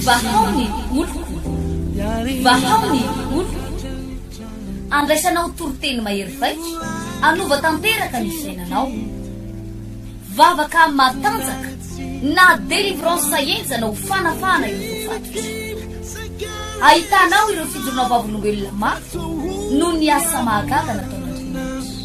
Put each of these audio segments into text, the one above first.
Vahao ny oloko, vahao ny oloko. Andraisanao toriteny mahery vaika, hanova tanteraka ny fiainanao. Vavaka matanjaka na délivrance enja na ho fanafahana ireo voafatotra. Ahitanao ireo fijoroana vavolombelona mafy noho ny asa mahagaga nataon'Andriamanitra.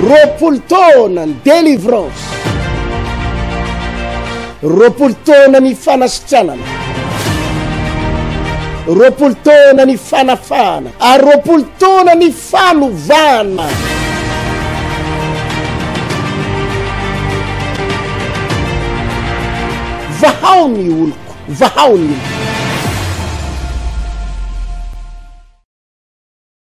Roapolo taona ny delivrance, roapolo taona ny fanasitranana, roapolo taona ny fanafahana, ary roapolo taona ny fanovana. Vahao ny oloko, vahao ny oloko.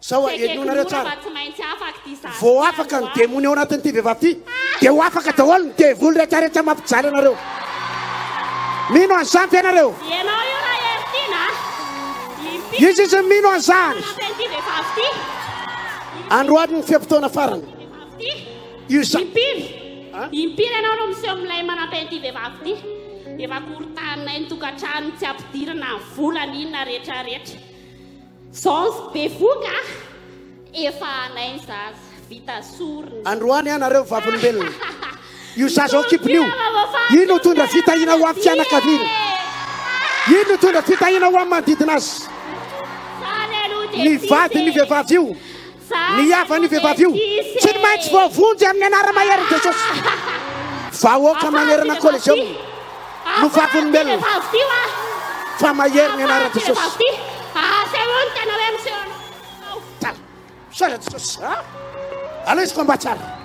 Sao henoinareo tsara. Vao afaka ny demony ao anatin'ity vehivavy ity, dia ho afaka daholo ny devoly rehetra rehetra mampijaly anareo. Mino an'izany ve ianareo? Ianao io raha Heritiana a. Iza izy no mino an'izany? Anatin'ity vehivavy ity. Androany ny fe-potoana farany. Io sa. Impiry? Impiry ianao no miseho milay manampy an'ity vehivavy ity? Efa korontanina eny tokantrano tsy ampidirina ny vola ny inona rehetra rehetra. Sens bevoka ah! Efa anay ny zaza, vita sorona. Androany an nareo vavolombelona. Io zaza ao an-kibony io, iny no tondra fitahiana ho amin'ny fianakaviany. Iny no tondra fitahiana ho amin'ny manodidina azy. Ny vadin'io vehivavy io. Ny havan'io vehivavy io tsy maintsy voavonjy amin'ny anara-maherin'i Jesosy. Vahoaka manerana ny Coliseum no vavolombelona fa mahery ny anaran'i Jesosy. Tara, soraty Jesosy, alaiso combat tsara.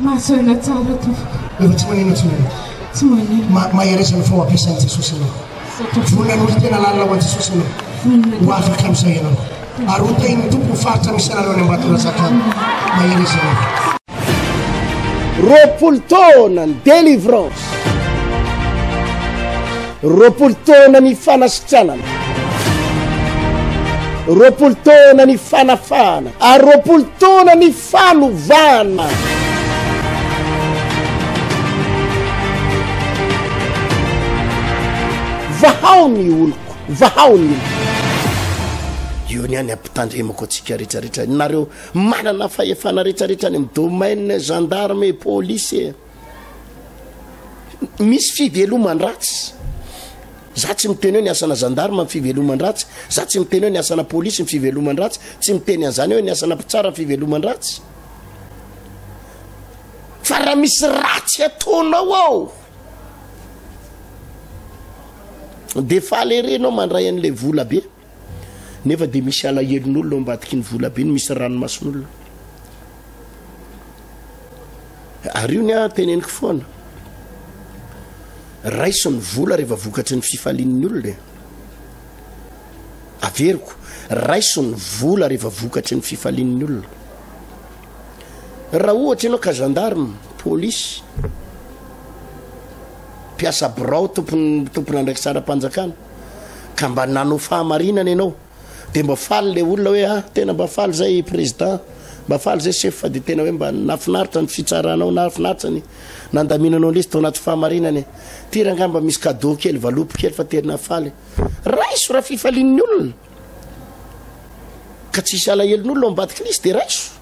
Mahazo aina tsara tompoko. Efa tsy manino intsony ianao. Tsy manino. Ma, mahereza ny faoampiasan'i Jesosy ianao. Vonona hanolo tena lalina ho an'i Jesosy ianao. Vonona. Ho afaka amin'izay ianao. Ary ho tahin'ny Tompo ny faritra misy anareo any Ambatondrazaka any. Mahereza ianao. Roapolo taona ny delivrance. Roapolo taona ny fanasitranana. Roapolo taona ny fanafahana. Ary roapolo taona ny. Fanovana! Vahao ny oloko, vahao ny oloko. Io ny any ampitandremako antsika rehetrarehetra. Nareo manana fahefana rehetrarehetra any amin'ny domaine gendarme et police. Misy fiveloman-dratsy. Za tsy miteny hoe ny asana zandarma ny fiveloman-dratsy, za tsy miteny hoe ny asana polisy ny fiveloman-dratsy, tsy miteny an'izany hoe ny asana mpitsara ny fiveloman-dratsy. Fa raha misy ratsy ataonao ao, dia faly ery ianao mandray an'ilay vola be. Nefa dia misy alahelon'olona ao ambadiky ny volabe no misy ranomason'olona. Ary io ny ahy teneniko foana. Raiso ny vola rehefa vokatry ny fifalian'ny olona. E. Averiko, raiso ny vola rehefa vokatry ny fifalian'ny olona. Raha ohatra ianao ka gendarme, polisy, mpiasa birao tompon'andraikitra ara-panjakana, ka mba nanao fahamarinana ianao dia mba faly le olona hoe ah tena mba faly zay président mba faly zay chef fa dia tena hoe mba nafinaritra ny fitsaranao nafinaritra ny nandaminanao lesy tao anaty fahamarinana e ty rangah mba misy cadeau kely valopy kely fa tena faly raiso raha fifalian'ny olona ka tsisy alahelon'olona ao ambadiky lisy dia raiso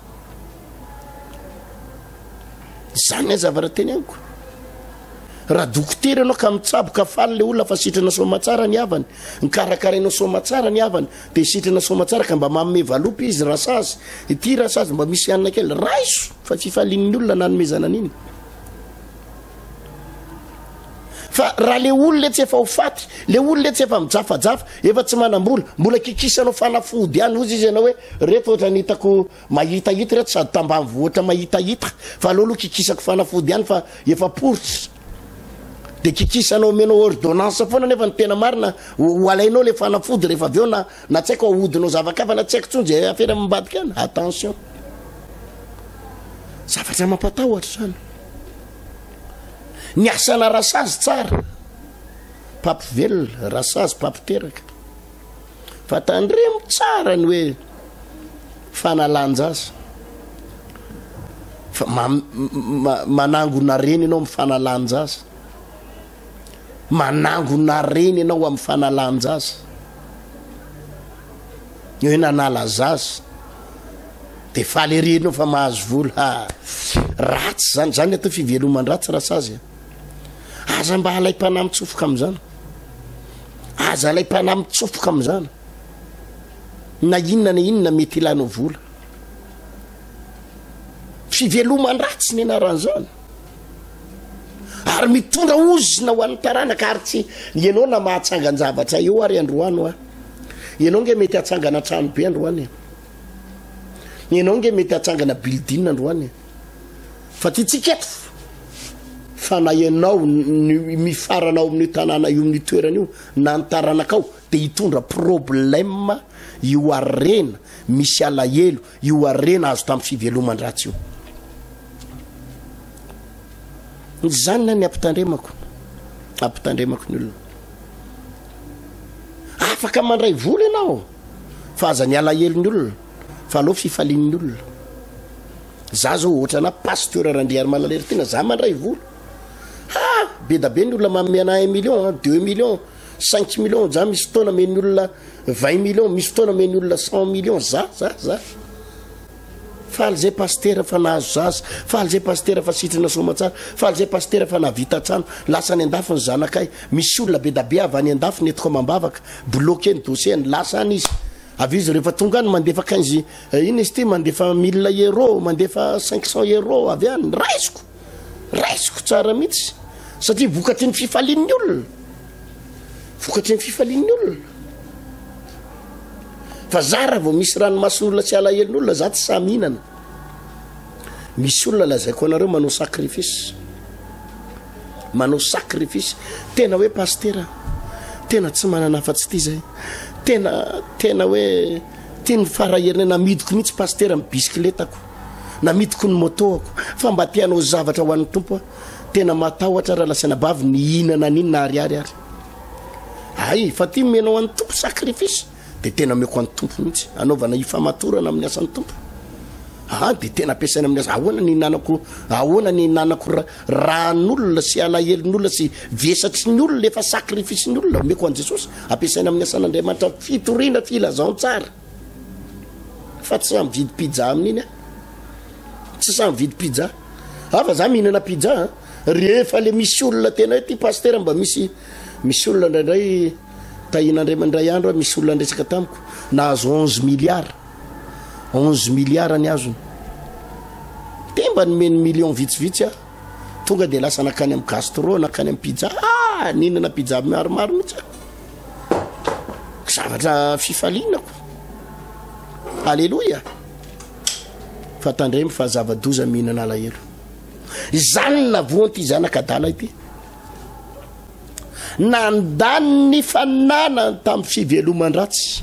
zany ny azavara teny amiko raha dokotera ianao ka mitsaboka faly le olona fa sitrana somatsara ny havany nikarakarainao somatsara ny havany de sitrana somatsara ka mba maome valopy izy raha sazy ity raha sazy mba misy hanina kely raiso fa fifalian'ny olona nanomezana an'iny fa raha le olona etsy efa ho faty le olona etsy efa mijafajafa efa tsy manam-bola mbola kikisanao fanafody any ozy izy ianao hoe reto ohatra ny hitako Mahitahita ireto sady tambanivohitra mahitahita fa aleo aloha kikisako fanafody ihany fa efa poritra de kikisanao omenao ordonnance foana nefa ny tena marina ho alainao le fanafody rehefa avy eo na na tsy haiko ahodinao zavakafa na tsy haiko tsony zay afera mambadika any attention zavatra mampatahotra zany ny asana rasazy tsara papivelona rasazy papiteraka Fa tandremo tsara ny hoe fanalan-jaza. Fa ma, ma, manangona reny ianao amin'ny fanalan-jaza. Manangona reny ianao amin'ny fanalan-jaza. Ny hoe nanala zaza de faly ery ianao fa mahazo vola. Ha, ratsy zany, zany atao fiveloman-dratsy rasazy. Aza mba alaim-panahy mitsofoka amin'izany. Aza alaim-panahy mitsofoka amin'izany. Na inona na inona mety hilanao vola. Fiveloman-dratsy ny anaran'izany. Ary mitondra ozona ho an'ny taranaka ary tsy ianao na mahatsangan-javatra eo ary androany hoa. Ianao nge mety hatsangana trano be androany. Ianao nge mety hatsangana building androany. Fa tiantsika eto fa na ianao no mifarana ao amin'io tanàna io, amin'io toerana io na ny taranakao dia hitondra problème io harena misy alahelo, io harena azo tamin'ny fiveloman-dratsy io. Izany ny ampitandremako, ampitandremako ny olona. Afaka mandray vola ianao fa aza ny alahelon'ny olona fa aleo fifalian'ny olona. Za zao ohatrana pasteur Randriarimana Leritiana za mandray vola ha bedabe ny olona manome anah un million an deux million cinq million za misy fotoana men'ny olona vingt million misy fotoana men'ny olona cent million za za za faly zay pasteur fa nahazo zaza faly zay pasteur fa sitrana somatsara faly zay pasteur fa nahavita trano lasa any andafy ny zanakay misy olona bedabe avy any andafy ny etiko amam-bavaka bloqué ny dossier-ny lasa any izy avy izy rehefa tonga any mandefa quinze Eh inn izy ity mandefa mille euro mandefa cinq cent euro avy any raisiko raisiko tsara mihitsy satria vokatry ny fifalian'ny olona vokatry ny fifalian'ny olona fa za raha vao misy ranomason'olona tsy alahelon'olona za tsy samy hinana misy olona lazaiko anareo manao sacrifice manao sacrifice tena hoe pastera tena tsy manana afa-tsy ity zay tena tena hoe Teny Farahirina, namidiko mihitsy Pasitera ny bisikiletako, namidiko ny motoako, fa mba te hanao zavatra ho an'ny Tompo aho, tena matahotra raha lasa anabavy nihinana an'inona ariary ary. Hay, fa ty omena ho an'ny Tompo sacrifice, dia tena omeko an'ny Tompo mihitsy, anaovana hifamatorana amin'ny asan'ny Tompo. Aa, dia tena ampiasaina amin'ny asa, ahoana ny hinanako, ahoana ny hinanako ra, Ran'olona sy alahelon'olona sy vesatry ny olona efa sacrifice ny olona omeko an'i Jesosy ampiasaina amin'ny asan'Andriamanitra fitoriana filazantsara fa tsy samy vidy pizza amin'iny a tsy samy vidy pizza a fa za mihinana pizza a rehefa le misy olona tena hoe ty pastera mba misy misy olona indraindray tahin'andriamanindray andro a misy olona andresaka tamiko nahazo onze milliards onze milliard ny azony de mba nomeny million vitsivitsy a tonga de lasa nakany am gastro nakany am pizza ah ninana pizza maromaro mihitsy zavatra fifaliana ko aleloia fa tandremo fa zava-doza mihinana alahelo izany navoan'ity zanaka adala ity nandany ny fananany tamin'ny fiveloman-dratsy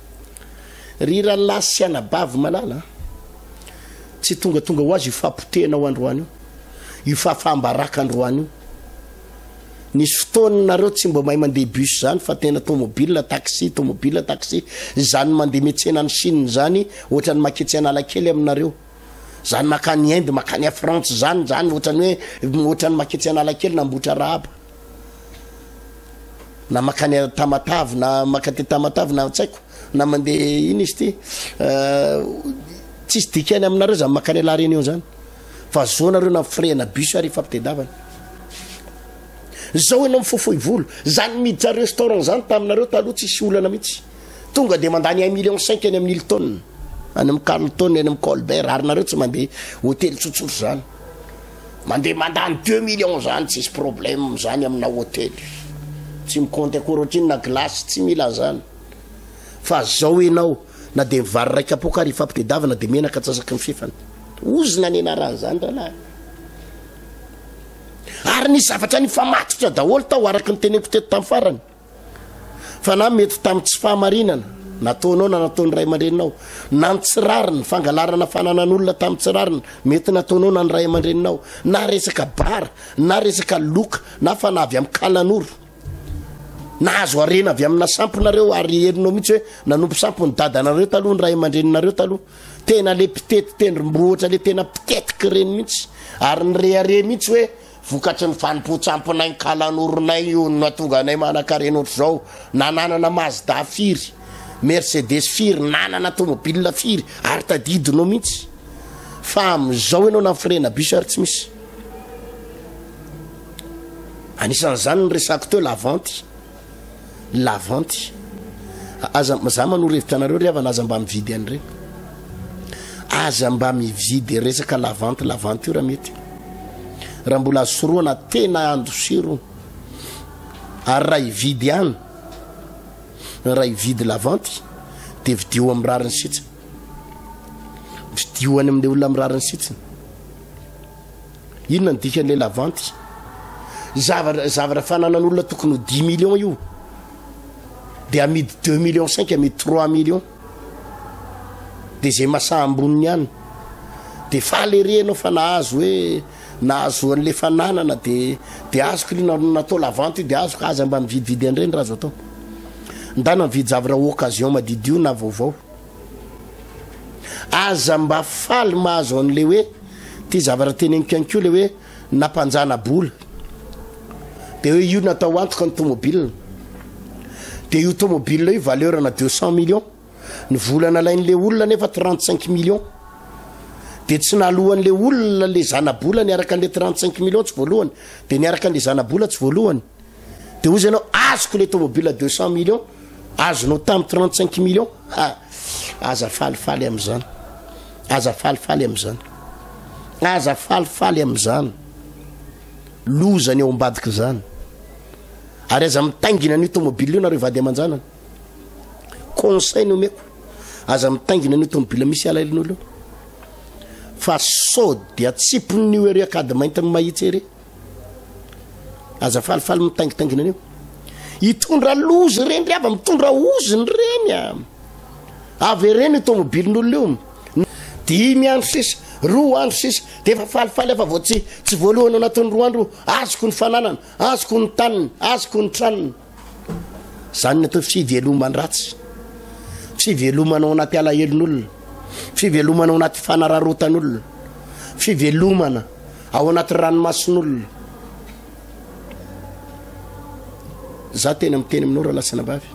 Ry rahalahy sy anabavy malala an! Tsy tongatonga ho azy io fahapotehana ao androany io, io fahafaham-baraka androany io. Nisy fotoana nareo tsy mba mahay mandeha bus zany fa tena tomobile taxi, tomobile taxi. Zany mandeha metsena any Chine zany, ohatran'ny maketsy Analakely aminareo. Zany makany Inde, makany à France zany, zany ohatran'ny hoe ohatran'ny maketsy Analakely na Ambohitrarahaba. na makany a Tamatave na maka aty Tamatave na tsy haiko na mandeha ino izy ity tsisy dikany aminareo zany makany a La Réunion zany fa zao nareo na firehana bus ary ifampitedavana zao ianao mifofoy volo zany miditra restaurant zany taminareo taloha tsisy olana mihitsy tonga de mandany un million cinq any amin'ny Hilton any amin'ny Carlton any amin'ny Colbert ary nareo tsy mandeha hotely tsotsotra zany Mandeha mandany deux millions zany tsisy problème zany amina hotely tsy mi compte akory otrino na glace tsy mila anzany fa zao enao na de ny vary ray kapoaka ary ifampitedavana de menaka atsasaky ny fefany ozona ny anarany zany ralahy ary ny zavatra nifamatotra daholo tao araky ny teneniko teto tam farany Fa na mety tamin'ny tsy fahamarinana nataonao na nataon'ny ray aman-dreninao, na ny tsy rariny, fangalarana fananan'olona tamin'ny tsy rariny mety nataonao na ny ray aman-dreninao, na resaka bara, na resaka loka, na fanahy avy amin'ny kalanoro, nahazo harena avy amina sampinareo ary herinao mihitsy hoe nanompo sampiny dadanareo taloha ny ray aman-dreninareo taloha tena le mpitety tendrombohitra le tena mpitetiky reny mihitsy ary ny rehareha mihitsy hoe Vokatry ny fanompoan-tsamponay ny kalanoronay io no nahatonga anay manankarena ohatr'izao. Nananana Mazda firy, Mercedes firy, nanana tomobilina firy ary tadidinao mihitsy. Fa amin'izao ianao namforehina bus ary tsy misy. Anisan'izany ny resako teo, Lavanty. lavanty aza za manoro hevitra anareo ry havana aza mba mividy an'ireny aza mba mividy resaka lavanty lavanty io raha mety raha mbola azo sorohana tena andosiro ary raha hividy ihany raha hividy lavanty dia vidio amin'ny rariny sitsiny vidio any amin'ilay olona amin'ny rariny sitsiny Inona ny dikan'ilay lavanty? Zavatra zavatra fananan'olona tokony ho dix millions io dia amidy deux millions cinq amidy trois millions dia izay masaha amboniny ihany dia faly ery ianao fa nahazo hoe nahazo an'ilay fananana dia dia azoko io na- natao lavanty io dia azoko aza mba mividividy an'ireny raha azo atao ndana mividy zavatra occasion madidio na vaovao Aza mba faly mahazo an'le hoe ty zavatra teneniko ihany koa le hoe nampanjana bola de hoe io natao antoka ny tomobile de io tomobile io valeur na deux cent millions ny vola nalain'le olona nefa trente cinq millions de tsy nalohan'le olona le zanabola niaraka an'le trente cinq millions tsy voalohany de niaraka an'le zanabola tsy voalohany Dia hoy izy ianao, azoko le tomobile deux cent millions, azonao tamin'ny trente cinq millions. Ha! Aza falifaly amin'izany. Aza falifaly amin'izany. Aza falifaly amin'izany. Loza ny ao ambadika izany. Ary aza mitaingina an'io tomobile io nareo vady aman-janany. Conseil no meko. Aza mitaingina an'io tomobile misy alailin'olo io. Fa sao dia tsipon'io ery akady maintin'ny mahitsy ery. Aza falifaly mitaingitaingina an'io. Hitondra loza ireny ry hava, mitondra oziny ireny a. Avy ireny tomobilin'olona io. Dimy andro sisa, roa andro sisa, dia efa falifaly afa vao tsy tsy voalohany anatin'ny roa andro, azoko ny fananana, azoko ny taniny, azoko ny tranony. Izany ny atao fiveloman-dratsy, fivelomana ao anaty alahelon'olona, fivelomana ao anaty fanararotan'olona, fivelomana ao anaty ranomason'olona. Za tena miteny aminao ralasana vavy,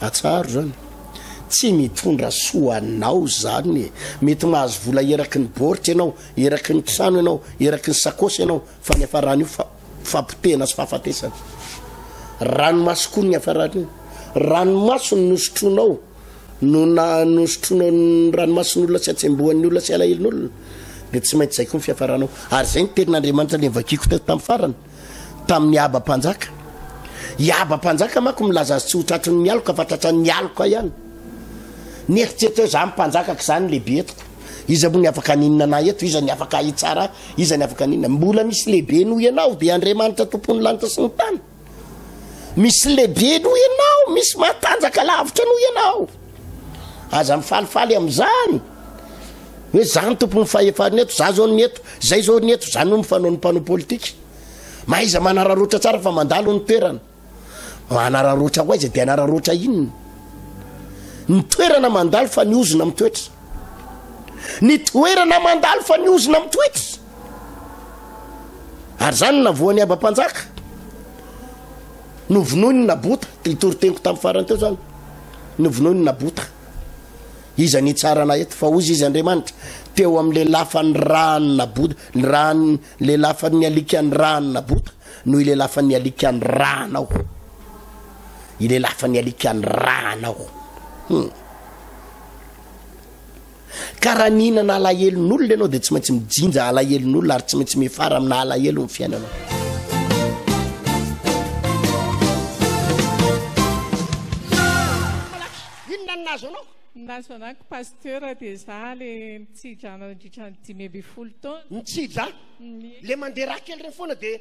atsaharo zany tsy mitondra soa anao zany e. mety mahazo vola eraky ny boritra ianao eraky ny trano ianao eraky ny sakosy ianao Fa ny hafarana io fa fapotehana sy fahafatesana. Ranomaso koa ny hafarana io. Ranomaso no nosotronao no na nosotronao ny ranomason'olona sy atsembohan'ny olona sy alahelon'olona dia tsy maintsy zay koa ny fiafaranao. Ary zay ny tenin'Andriamanitra le vakiko teto tamin'ny farany tamin'ny haba mpanjaka. I haba mpanjaka manko milaza azy tsy ho tratrin'ny aloka fa tratran'ny aloka ihany. Nieritreritra hoe za mpanjaka ka za no lehibe etiko. Iza moa ny afaka haninona anah eto? Iza ny afaka hahitsara ahy? Iza ny afaka haninona? Mbola misy lehibe noho ianao, dia Andriamanitra tompon'ny lanitra sy ny tany. Misy lehibe noho ianao, misy matanjaka lavitra noho ianao. Aza mifalifaly amin'izany. Hoe za ny tompon'ny fahefana eto, za zao ny eto, zay zao ny eto, zany no mifanao ny mpanao politika. Mahaiza manararotra tsara fa mandalo ny toerana. Manararaotra ho aiza dia anararaotra inona? Ny toerana mandalo fa ny ozona mitoetra. Ny toerana mandalo fa ny ozona mitoetra. Ary zany navoan'ny abam-panjaka. Novonoiny ny nabota, itoriteny ko tamin'ny farany teo zany. Novonoiny ny nabota. Iza ny hitsarana eto fa hozy izy Andriamanitra teo amin'ny lelafany rany nabota, ny rany lelafan'ny alikany rany nabota. no ilelafan'ny alika ny rà anao ilelafan'ny alika ny rà anao hmm. ka raha nihinana alahelon'olona ianao dia tsy maintsy mijinja alahelon'olona ary tsy maintsy mifara amina alahelo ny fiainanao inona ny nazo anao nazo anako pasteur dia za le mitsidra nandritra ny dimy amby folo taona mitsidra Le mandeha raha kely reny foana dia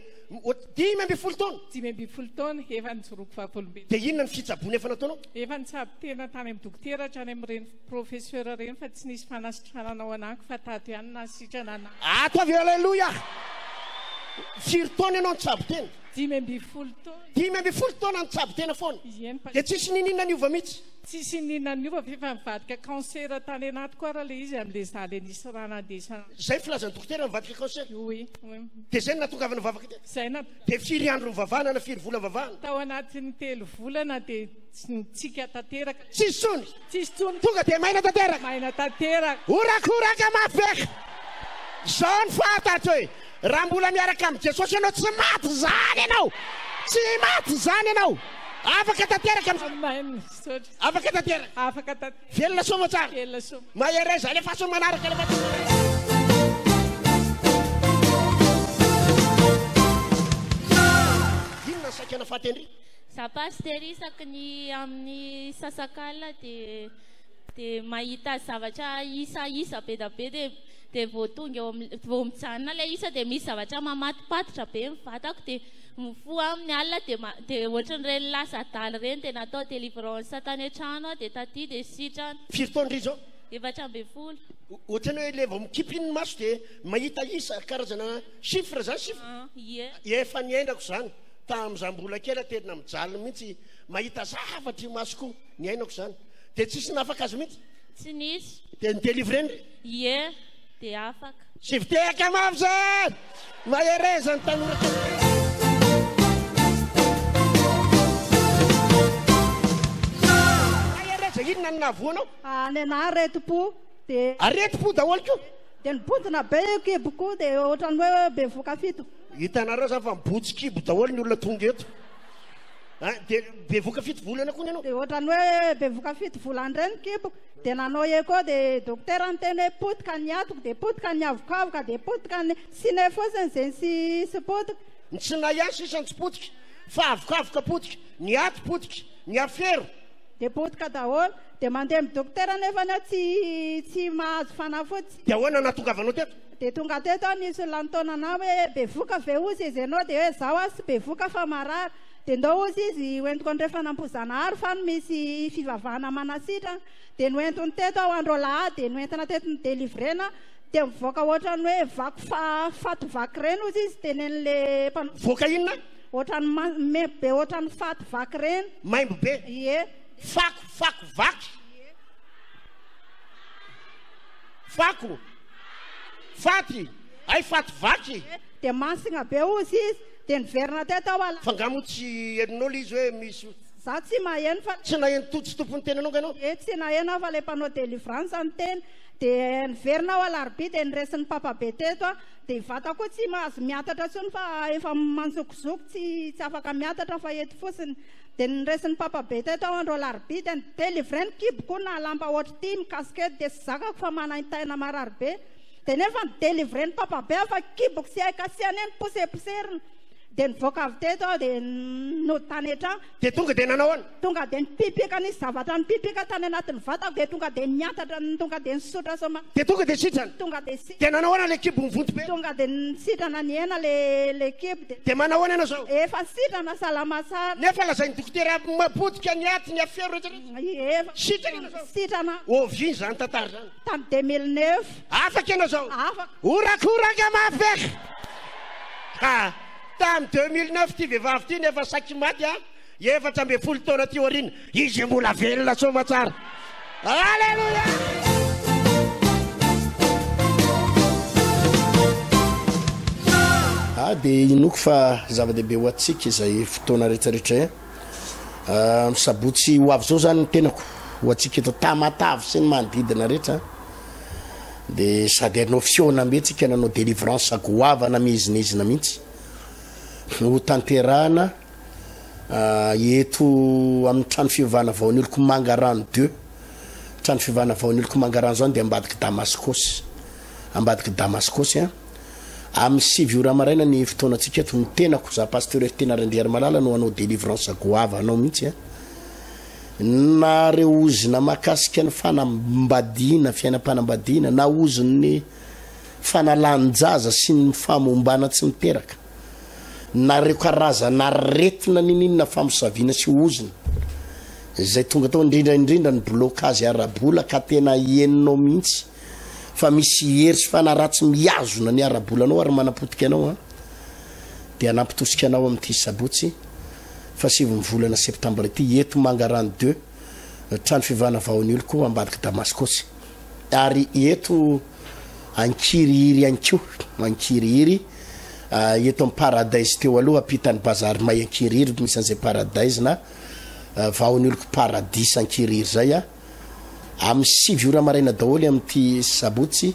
dimy ambin'ny folo taona. Dimy ambin'ny folo taona efa nijoroako vavolombelona. Dia inona ny fitsaboana efa nataonao? Efa nitsabo tena tany amin'ny dokotera hatrany amin'ireny professeur ireny fa tsy nisy fanasitranana ao anako fa tato ihany nahasitrana anako. Ato avy aleloia. Firy taona ianao nitsabo tena? Dimy ambin'ny folo taona. Dimy ambin'ny folo taona nitsabo tena foana. Dia tsisy nininona niova mihitsy. Tsisy nininona niova fa efa nivadika cancer tany anatiko ary ilay izy amin'ilay za le nisy rà nandesana. Zay filazan'ny dokotera mivadika cancer? Oui, oui. Dia zay no nahatongavana vavaka teto? Zay na. Dia firy andro nivavahana na firy vola nivavahana? Tao anatin'ny telo volana dia nitsika tanteraka. Tsisy tsony? Tsisy tsony. Tonga dia maina tanteraka? Maina tanteraka. Horakoraka mafy beka. Zao ny fahatatro e. Raha mbola miaraka amin'i Jesosy ianao tsy maty zany ianao. Tsy maty zany ianao. Afaka tanteraka. Amen. Misaotra. Afaka tanteraka. Afaka tanteraka. Velona soa moa tsara. Velona soa. Mahereza alefaso manaraka alefaso manaraka. saikana fahatendry za pasitera isaky ny amin'ny sasakalina dia dia mahita zavatra isa isa be da be dia dia vao tonga eo amin'ny vao mijanona ilay isa dia misy zavatra mamatopatotra be ny vatako dia Mifoha aminy alina dia ma dia ohatry ny reny lasa adala reny dia natao delivrance tany an-trano aho dia taty dia sitrana. Firy taona ry zao? Efatra ambin'ny folo. Ohatrany hoe le vao mikipy iny ny maso dia mahita isa, karazana chiffre zany sif? Ah, ie. Efa niainako zany, tam za mbola kela tena mijaly mintsy mahita zavatra io masoko io, niainako zany. Dia tsisy nahafaka azy mintsy? Tsy nisy. Dia ni-delivrer-ny re? Ie. Dia afaka. Sivy tehaka mafy izay! Mahereza ny tanora! inona no nahavoanao? Ah, le na aretim-po dia aretim-po daholo koa dia nibontsina be io kibo koa dia ohatran'ny hoe bevoka fito hitanareo zany fa mibotsy kibo daholo ny olona tonga eto ah, dia bevoka fito volana koa ny anao dia ohatran'ny hoe bevoka fito volana indray ny kiboko Dia nanao echo dia dokotera niteny hoe potika ny atoko dia potika ny avokavoka dia potika ny sine fotsiny zegny sy sy potika. Ny tsinay ihany sisa no tsy potika fa avokavoka potika, ny aty potika, ny afero. Dia potika daholo. Dia mandeha amin'ny dokotera nefany aho tsy tsy mahazo fanafody. Dia ahoana no nahatongavanao teto? Dia tonga teto aho nisy olona nitaona anah hoe bevoka ve ozy izy ianao dia hoe izaho aho tsy bevoka fa marary. Dia ndao ozy izy hoentiko andrefana ampoizanahary fa no misy fivavahana manasitra dia noentiny teto aho andro alahady dia noentina teto ny delivrena dia mivoaka ohatran'ny hoe vaky fa faty vaky ireny ozy izy tenen'le mpanao Voaka inona? ohatran'ny ma- maimbo be ohatran'ny faty vaky ireny Maimbo be. ie Fako, fako, vaky. Fako. Faty. Hay faty vaky. dia masina be ozy izy Dia niverina teto aho ala. Fa nga moa tsy henonao le izy hoe misy ho. Za tsy maheno fa. Tsy naheno Tojo Tompo niteny anao nga ianao? Ee tsy naheno aho fa le mpanao delivrance niteny. Dia niverina aho alarobia dia niresin'ny papabe teto aho. Dia i vata koa tsy mahazo miatatra tsony fa efa manjokozoky tsy tsy afaka miatatra fa eto fotsiny. Dia niresin'ny papabe teto aho andro alarobia dia ni-delivrer ny kiboko na lamba ohatr'ity mikasika eto dia tsy zakako fa manaintaina marary be. Dia nefa ny délivré ny papabe aho fa kiboko sy hay kasiana eny poseposerina. Dia nivoaka avy teto aho dia nody tany an-trano. Dia tonga dia nanao ahoana? Tonga dia nipipika nisy zavatra nipipika tany anatin'ny vatako dia tonga dia niantatra tonga dia nisotra soma. Dia tonga dia sitrana? Tonga dia sitrana. Dia nanao ahoana ilay kibo mivonto be? Tonga dia nisitrana nihena ilay kibo dia. Dia manao ahoana ianao izao? Efa sitrana salama tsara. Nefa lazain'ny dokotera mapotika ny aty ny afero rehetra rehetra? Efa. Sitrana ianao izao? Sitrana. Ovia izany tantara izany? Tamin'ny 2009. Afaka ianao izao? Afaka. Horakoraka mafy aky! Ha! Tamin'ny 2009 ity vehivavy ity no efa saiky maty an! Efatra ambin'ny folo taona aty aoriana. Izy mbola velona soamatsara. Alléluia! Ah, dia inoako fa zava-dehibe ho antsika izay fotoana rehetrarehetra. Ny sabotsy ho avy zao zany ny tenako ho antsika eto Tamatave sy ny manodidina rehetra de sady hanao fihaonambe tsika nanao delivrance goavana mihezinezina mihitsy ho tanterahana eto amin'ny trano fivavahana vaoniloko mangarano deux trano fivavahana vaoniloko mangarano zany de ambadiky Damascos ambadiky Damascos a Amin'ny sivy ora maraina ny fotoanantsika eto, ny tenako za Pasteur Ertena Randriarimalala no hanao délivrance goava anao mihitsy a. Na reo ozona makasika ny fanambadiana, fiainam-panambadiana, na ozon'ny fanalan-jaza sy ny famombana tsy miteraka, na reo karazana aretina nininona famosaviana sy ozona zay tonga tao indrindra indrindra ny blocage ara-bola ka tena henonao mihitsy. fa misy hery sy fanaratsy mihazona ny ara-bola anao ary manapotika anao an dia anampitosika anao amin'ity sabotsy fa sivy ny volana septambra ity eto mangarano de trano fivana vaon'ny oloko ambadika damaskosy ary eto ankirihiry ihany koa ankirihiry ah, eto amin'ny paradise teo aloha ampitan'ny bazary may ankirihiry misy an'izay paradise na ah, vaon'ny oloko paradisa ankirihiry zay a ah. amin'ny sivy ora maraina daholo amin'ity sabotsy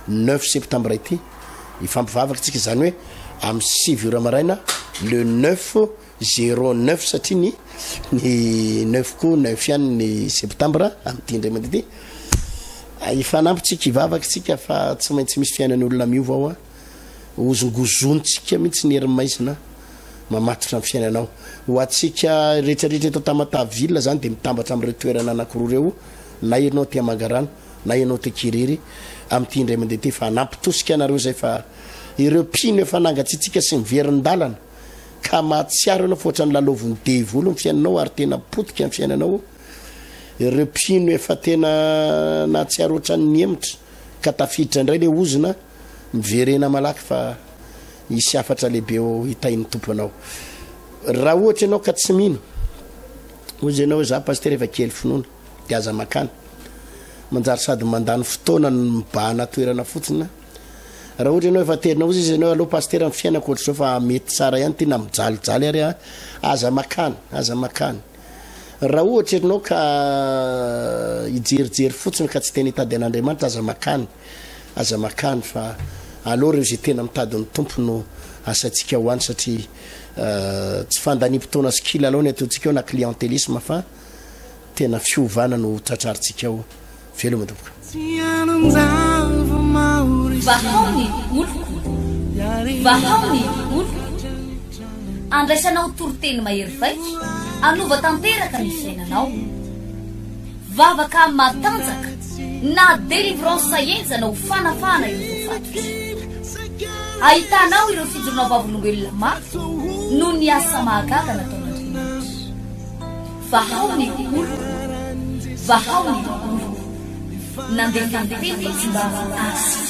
neuf septembre ity hifampivavaka tsika izany hoe amin'ny sivy ora maraina le neuf zero neuf satria ny ny neuf ko neuf ihany ny septembre amin'ity indray mandeha ity hifanampy tsika hivavaka tsika fa tsy maintsy misy fiainan'olona miova ao a Hozongozontsika mihitsy ny hery maizina mamatotra ny fiainanao. Ho antsika rehetrarehetra eto Tamataville izany dia mitambatra amin'ireo toerana anankiroa ireo, na ianao aty Mangarano, na ianao aty Kiriry, amin'ity indray mandeha ity fa hanampy tosika anareo izay fa ireo mpino efa nangatsiatsiaka sy miverin-dalana ka mahatsiaro ianao fa ohatran'ny lalaovin'ny devoly ny fiainanao ary tena potika ny fiainanao, ireo mpino efa tena nahatsiaro ohatran'ny hemotra ka tafiditra indray ilay ozona. miverena malaky fa hisy hafatra lehibe ho hitain'ny tompo anao raha ohatra ianao ka tsy mino ozy ianao za paster efa kely finoana de aza makana manjary sady mandany fotoana ny mibahana toerana fotsiny raha ohatra ianao efa terina ozy izy ianao aloha paster ny fiainako ohatra zao fa mety tsara ihany tena mijalijaly ary a aza makana aza makana raha ohatra ianao ka hijerijery fotsiny ka tsy tena hitady an'andriamanitra aza makana Aza makany fa aleo reo ze tena mitady ny Tompo no asaintsika ho any satria tsy fandaniam-potoana sy kilalao ny ataontsika ao na clientelisme fa tena fiovana no tratrarintsika ao. Veloma tompoko. Vahao ny oloko, vahao ny oloko, andraisanao toriteny mahery vaika, anova tanteraka ny fiainanao. Vavaka matanjaka na délivrance enjana ho fanafahana ireo voafatotra. Ahitanao ireo fijoroana vavolombelona mafy noho ny asa mahagaga nataon'Andriamanitra. Vahao ny oloko, vahao ny oloko. Nandefa ny teny ny tsimbavy azy.